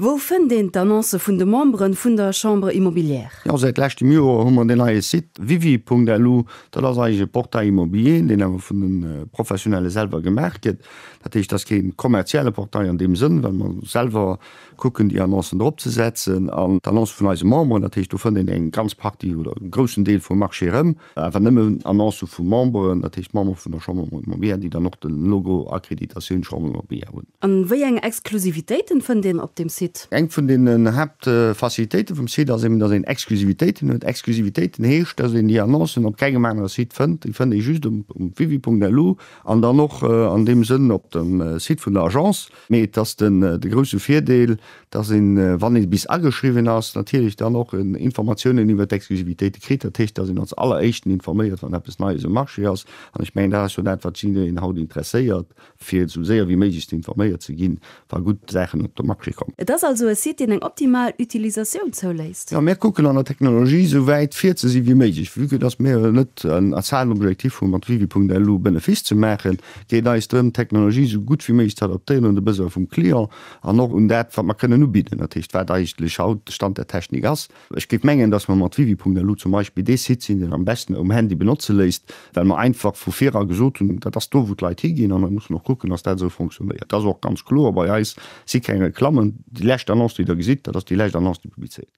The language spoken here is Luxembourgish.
Wou fënnt een d'Annoncë vun de Membere vun der Chambre immobilière? Jo, säit leschtem Joer hu mer deen neie Site wiwi.lu. Dat ass eigentlech e Portail immobilier, deen awer vun de Professionelle selwer gemaach gëtt. Dat heescht, et ass kee kommerzielle Portail an deem Sënn, well mer selwer kucken, déi Annoncen drop ze setzen. An d'Annoncë vun eise Memberen, dat heescht, do fënnt een eng ganz Partie oder e groussen Deel vum Marché erëm. Awer nëmmen Annoncë vu Memberen, dat heescht Member vun der Chambre de Commerce Mobea, déi dann och de Logo Accréditation Chambre de Mobea hunn. A wéi eng Exklusivitéiten fënnt een op dem Site? Eng vun den Haaptfacilitéite vum Site ass eben, datt een Exklusivitéiten huet. Exklusivitéiten heescht, datt een déi Annoncen op kengem anere Site fënnt. Déi fënnt ee just um www.lu an dann och an deem Sënn op dem Site vun der Agence. Mee et ass den grousse Virdeel, dass een, wann ee bis ageschriwwen ass, natierlech dann och Informatiounen iwwert d'Exklusivitéite kritt. Dat heescht, dass een als Alleréischten informéiert, wann eppes Neies um Marché ass. An ech mengen, dat ass jo dat, wat jiddereen haut interesséiert, fir esou séier wéi méiglechst informéiert ze ginn, wa gutt Saachen op de Marché kommen. Et ass also e Site, deen eng optimal Utilisatioun zouléisst. Jo, mir kucken an der Technologie esou wäit vir ze si wéi méiglech, vu que dass mir net als Haaptobjektiv hu mat Wikipunkt lu Benefice ze maachen, Et geet eis drëm, d'Technologie esou gutt wéi méiglech ze adaptéieren un de Besoin vum Client an och un dat, wat mer kënnen ubidden, dat heescht, wat eigentlech haut de Stand der Technik ass. Ech géif mengen, dass mer mat Wiwi.lu zum Beispill dee Site sinn, deen am besten um Handy benotze léisst, well mer einfach vu vir a gesot hunn, dat ass do, wou d'Leit higinn, an et muss een och kucken, dass dat esou fonctionnéiert. Dat ass och ganz kloer bei eis, si keng Reklammen. Déi lescht Annonce, déi Der gesitt, dat ass déi lescht Annonce, déi publizéiert gëtt.